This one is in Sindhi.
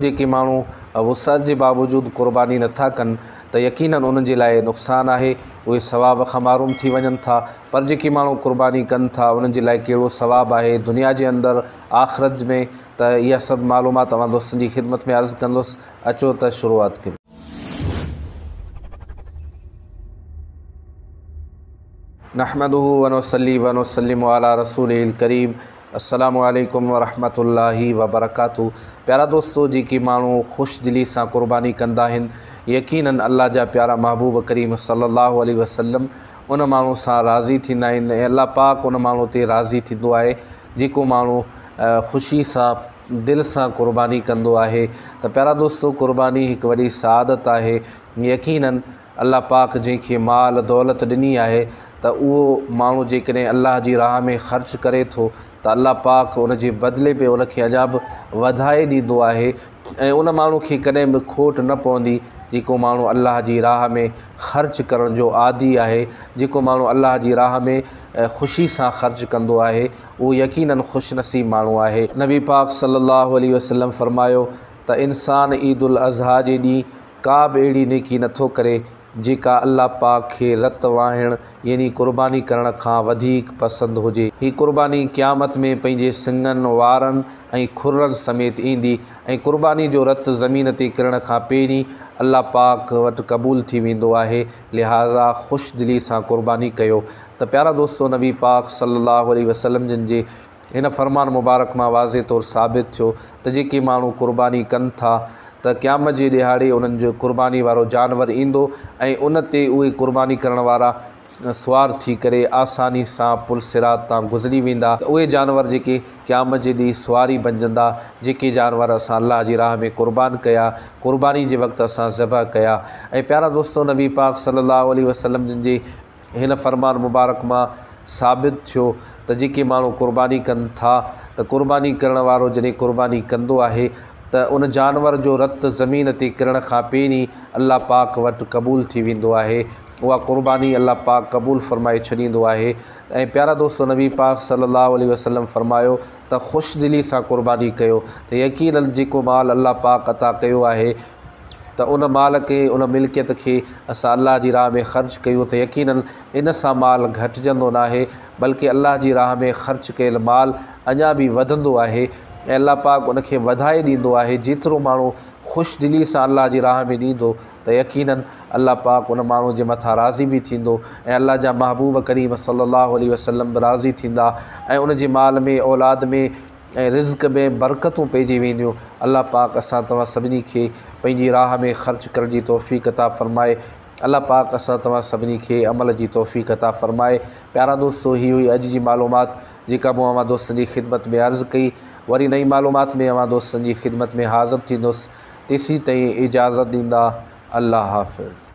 جيڪي ماڻهو وسعت جي باوجود قرباني نه ٿا ڪن ته يقيناً انهن جي لاء نقصان آهي، اهي ثواب کان محروم ٿي وڃن ٿا، پر جيڪي ماڻهو قرباني ڪن ٿا انهن جي لاء ڪهڙو ثواب آهي دنيا جي اندر، آخرت ۾، ته اها سڀ معلومات اوهان دوستن جي خدمت ۾ عرض ڪندس، اچو ته شروعات ڪريون. نحمده ونصلي ونسلم علي رسوله الڪريم السلام عليڪم ورحمة الله وبرڪاته پيارا دوستو جيڪي ماڻهو خوش دلي سان قرباني ڪندا آهن يقينن الله جا پيارا محبوب ڪريم صلي الله عليه وسلم ان ماڻهو سان راضي ٿيندا آهن ۽ الله پاڪ ان ماڻهو تي راضي ٿيندو آهي جيڪو ماڻهو خوشي سان دل سان قرباني ڪندو آهي ته پيارا دوستو قرباني هڪ وڏي سعادت آهي يقينن الله پاڪ جنهن کي مال دولت ڏني آهي ته اهو ماڻهو جيڪڏهن الله جي راهه ۾ خرچ ڪري ٿو ته الله پاڪ ان جي بدلي ۾ ان کي اڃا به وڌائي ڏيندو آهي ۽ ان ماڻهو کي ڪڏهن به کوٽ نه پوندي جيڪو ماڻهو الله جي راهه ۾ خرچ ڪرڻ جو عادي آهي جيڪو ماڻهو الله جي راهه ۾ خوشي سان خرچ ڪندو آهي اهو يقيناً خوش نصيب ماڻهو آهي. نبي پاڪ صلي الله عليه وسلم فرمايو ته انسان عيد الاضحيٰ جي ڏينهن ڪا به اهڙي نيڪي نه ٿو ڪري جيڪا الله پاڪ کي رت واهڻ يعني قرباني ڪرڻ کان وڌيڪ پسند هجي. هي قرباني قيامت ۾ پنهنجي سڱن، وارن ۽ کرن سميت ايندي ۽ قرباني جو رت زمين تي ڪرڻ کان پهرين الله پاڪ وٽ قبول ٿي ويندو آهي لهٰذا خوش دلي سان قرباني ڪيو ته پيارا دوستو نبي پاڪ صلي الله عليه وسلم جن جي هن فرمان مبارڪ مان واضح طور ثابت ٿيو ته جيڪي ماڻهو قرباني ڪن ٿا ته قيامت جي ڏيهاڙي انهن جو قرباني وارو جانور ايندو ۽ ان تي اهي قرباني ڪرڻ وارا سوار ٿي ڪري آساني سان پل صراط تان گذري ويندا ته اهي جانور جيڪي قيامت جي ڏينهن سواري بنجندا جيڪي جانور اسان الله جي راهه ۾ قربان ڪيا قرباني جي وقت اسان ذبح ڪيا ۽ پيارا دوستو نبي پاڪ صلي الله عليه وسلم جن جي هن فرمان مبارڪ مان ثابت ٿيو ته جيڪي ماڻهو قرباني ڪن ٿا ته قرباني ڪرڻ وارو جڏهن قرباني ڪندو آهي ته ان جانور جو رت زمين تي ڪرڻ کان پهرين الله پاڪ وٽ قبول ٿي ويندو آهي اها قرباني الله پاڪ قبول فرمائي ڇڏيندو آهي ۽ پيارا دوستو نبي پاڪ صلي الله عليه وسلم فرمايو ته خوش دلي سان قرباني ڪيو ته يقينن جيڪو مال الله پاڪ عطا ڪيو آهي ته ان مال کي ان ملڪيت کي اسان الله جي راهه ۾ خرچ ڪيون ته يقيناً ان سان مال گهٽجندو ناهي بلڪه الله جي راهه ۾ خرچ ڪيل مال اڃا به وڌندو آهي ۽ الله پاڪ ان کي وڌائي ڏيندو آهي جيترو ماڻهو خوش دلي سان الله جي راهه ۾ ڏيندو ته يقيناً الله پاڪ ان ماڻهو جي مٿان راضي به ٿيندو ۽ الله جا محبوب ڪريم صلي الله عليه وسلم به راضي ٿيندا ۽ ان جي مال ۾ اولاد ۾ ۽ رزق ۾ برڪتون پئجي وينديون الله پاڪ اسان توهان سڀني کي پنهنجي راهه ۾ خرچ ڪرڻ جي توفيق عطا فرمائي الله پاڪ اسان توهان سڀني کي عمل جي توفيق عطا فرمائي پيارا دوستو هي هئي اڄ جي معلومات جيڪا مون اوهان دوستن جي خدمت ۾ عرض ڪئي وري نئين معلومات ۾ اوهان دوستن جي خدمت ۾ حاضر ٿيندس تيسين تائين اجازت ڏيندا الله حافظ